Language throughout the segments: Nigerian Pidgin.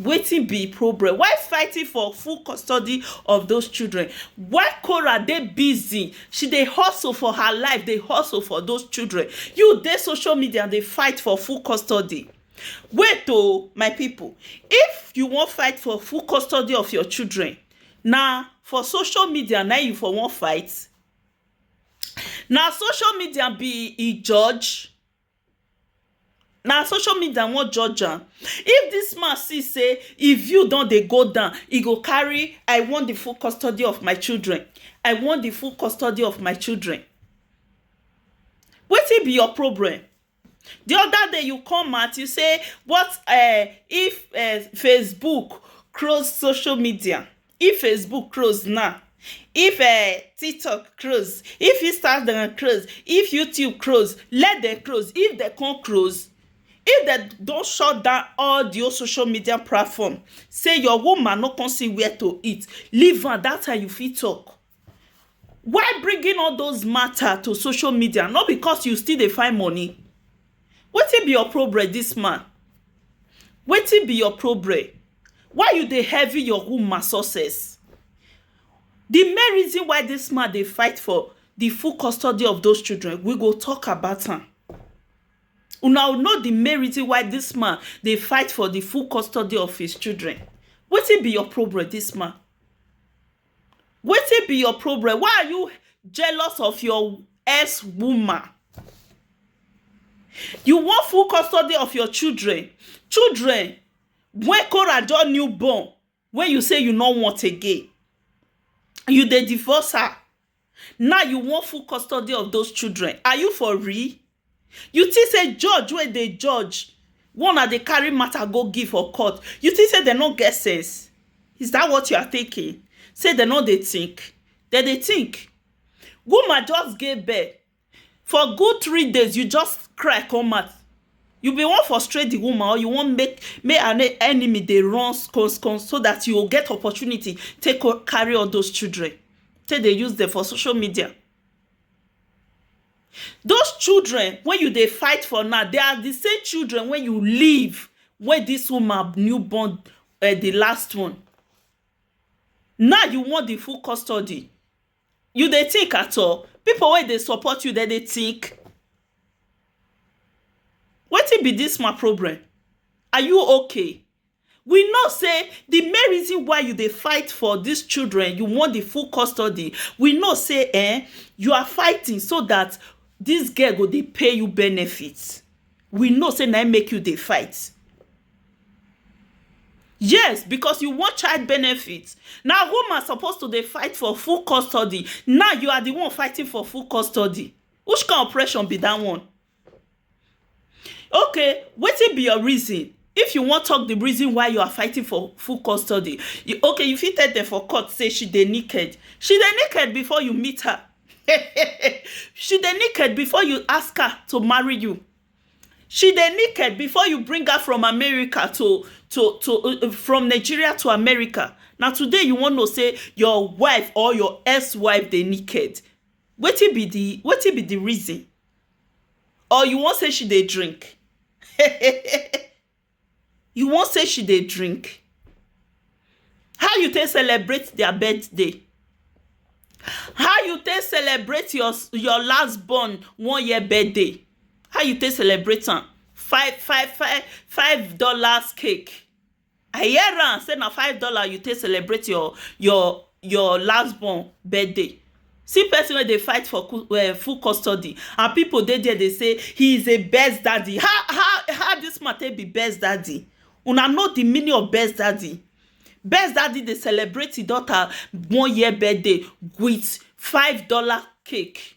Wetin be im problem? Why fighting for full custody of those children? Why Korah dey busy, she dey hustle for her life, dey hustle for those children? You dey social media dey fight for full custody? Wait o, my people, if you wan fight for full custody of your children, na for social media na im you for wan fight? Na social media be im judge? Na social media wan judge am if dis man see say e view don dey go down e go carry I want the full custody of my children I want the full custody of my children wetin be your problem the other day you come out you say what um if um Facebook close social media If Facebook close now, if um TikTok close, if Instagram close, if YouTube close, let dem close. If dem come close, if dem don shut down all the whole social media platform, say your woman no come see where to eat, leave am. That time you fit talk. Why bringing all those matter to social media no be cos you still dey find money wetin be your problem this man wetin be your problem why you dey heavy your woman success the main reason why this man dey fight for the full custody of those children we go talk about am una know the main reason why this man dey fight for the full custody of his children wetin be your problem this man Wetin be your problem why are you jealous of your ex woman you want full custody of your children children wey Korah just new born wey you say you no want again you dey divorce her Now you wan full custody of those children, are you for real? You think say judge wey dey judge wey una dey carry matter go give for court, you think say dem no get sense? Is that what you are thinking? Say dem no dey think? Dem dey think. Woman just gave birth. for good three days you just cry come out you been wan frustrate the woman or you wan make make her enemy dey run skosko so that you go get opportunity take carry all those children take dey use them for social media those children wey you dey fight for now they are the same children wey you leave wey this woman new born um the last one now you want the full custody You dey think at all? Pipu wey dey support you dem dey think? Wetin be dis ma problem? Are you okay? We know sey the main reason why you dey fight for dis children, you want the full custody, we know sey um you are fighting so dat dis girl go dey pay you benefit. We know sey na im make you dey fight. Yes because you want child benefit na woman suppose to dey fight for full custody now you are the one fighting for full custody which kind oppression be that one okay wetin be your reason if you want talk the reason why you are fighting for full custody okay you fit tell them for court say she dey naked she dey naked before you meet her she dey naked before you ask her to marry you She dey naked before you bring her from America to to to from Nigeria to America na today you wan know sey your wife or your ex wife dey naked wetin be de wetin be de reason or you wan sey she dey drink You wan say she dey drink? How you take celebrate dia birthday? How you take celebrate your your last born one year birthday? How you take celebrate am? Five five five five dollars cake. I hear am say na five dollars you take celebrate your your your last born birthday. See person wey dey fight for full custody and pipu dey there dey say he is a best daddy how how this man take be best daddy una know the meaning of best daddy best daddy dey celebrate him daughter one year birthday with five dollar cake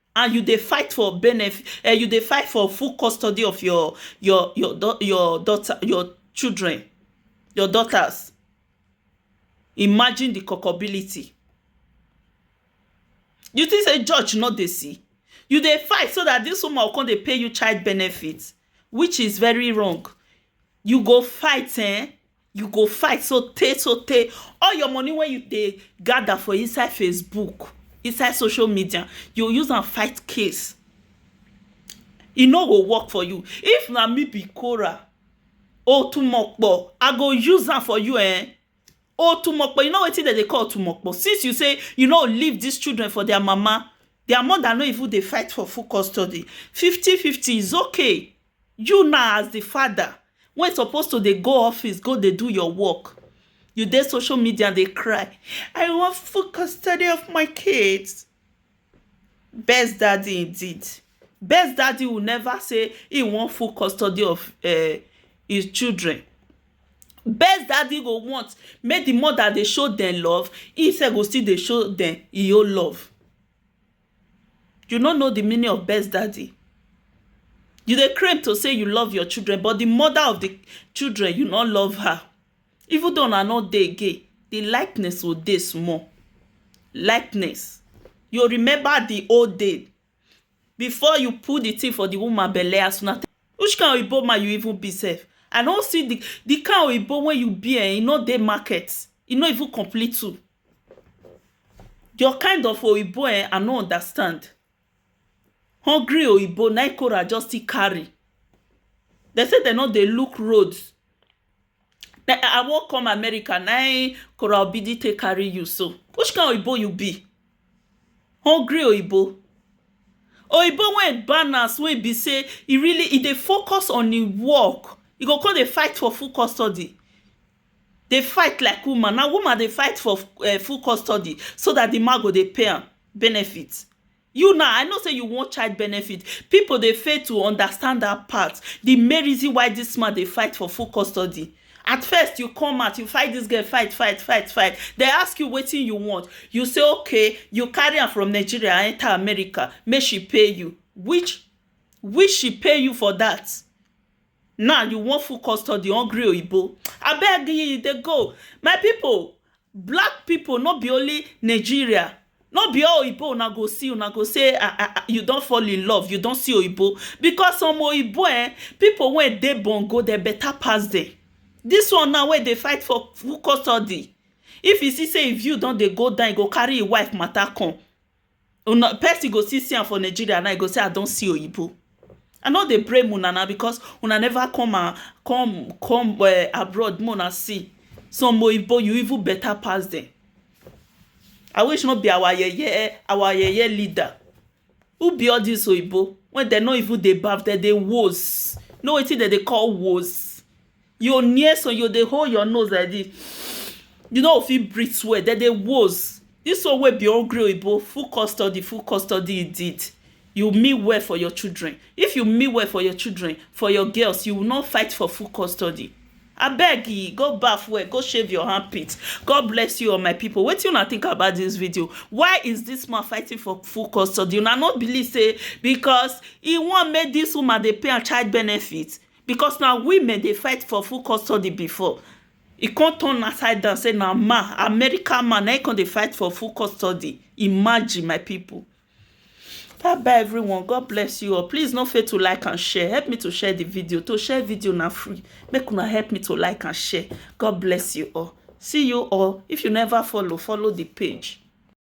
and you dey fight for benefit um you dey fight for full custody of your your your your daughter your children your daughters imagine the culpability you think say judge no dey see you dey fight so that this woman go come dey pay you child benefit which is very wrong you go fight um You go fight so tey so tey all your money wey you dey gather for inside Facebook inside social media you go use am fight case e no go work for you if na me be Korah otumokpo I go use am for you um otumokpo you know wetin dem dey call otumokpo since you say you no leave this children for their mama their mother no even dey fight for full custody fifty fifty is okay You now as the father wey suppose to dey go office go dey do your work, you dey social media dey cry, I want full custody of my kids. Best daddy indeed. Best daddy will never say he want full custody of um his children. Best daddy go want make the mother dey show dem love, im self go still dey show dem im own love. You no know the meaning of best daddy. You dey claim to say you love your children but the mother of the children you no love her. Even though una no dey again, the likeness go dey small. Likeness. You go remember the old days before you put the thing for the woman belle as una take Which kind oyibo man you even be sef? I no see the the kind oyibo wey you be um e no dey market. E no even complete too. Your kind of oyibo um I no understand hungry oyibo na im Korah just still carry dem say dem no dey look road um I wan come America na im Korah Obi dey take carry you so which kind oyibo you be hungry oyibo oyibo wey e balance wey e be say e really e dey focus on im work e go come dey fight for full custody dey fight like woman, na woman dey fight for full custody so dat di man go dey pay am benefit you now I know sey you want child benefit pipo dey fail to understand dat part di main reason why dis man dey fight for full custody at first you come out you fight dis girl fight fight fight fight dem ask you wetin you want you say ok you carry am from Nigeria enter America make she pay you which which she pay you for dat Now you wan full custody hungry oyibo abeg e dey go my pipu black pipu no be only Nigeria no be all oyibo una go see una go say ah ah ah you don fall in love you don see oyibo because some oyibo um pipu wey dey bongo dem better pass dem this one now wey dey fight for full custody if e see say him view don dey go down e go carry him wife matter come Una person go still see am for Nigeria now e go say I don see oyibo I no dey blame una na because una never come and come come abroad make una see some oyibo you even better pass dem I wish no be our yeye our yeye leader who be all this oyibo wey dem no even dey baff dem dey woos you know wetin dem dey call woos Your nears and you dey hold your nose like this. You no go fit breathe well. Dem dey woes. This one wey be hungry oyibo, full custody, full custody indeed. You mean well for your children. If you mean well for your children, for your girls, you will not fight for full custody. Abeg e, go baff well, go shave your armpit. God bless you all my people. Wetin una think about this video? Why is this man fighting for full custody? Una no believe say because he wan make this woman dey pay am child benefit? because na women dey fight for full custody before e come turn upside down say na man America man na him come dey fight for full custody imagine my people bye bye everyone God bless you all please no fail to like and share help me to share the video to share video na free make una help me to like and share God bless you all see you all if you never follow follow the page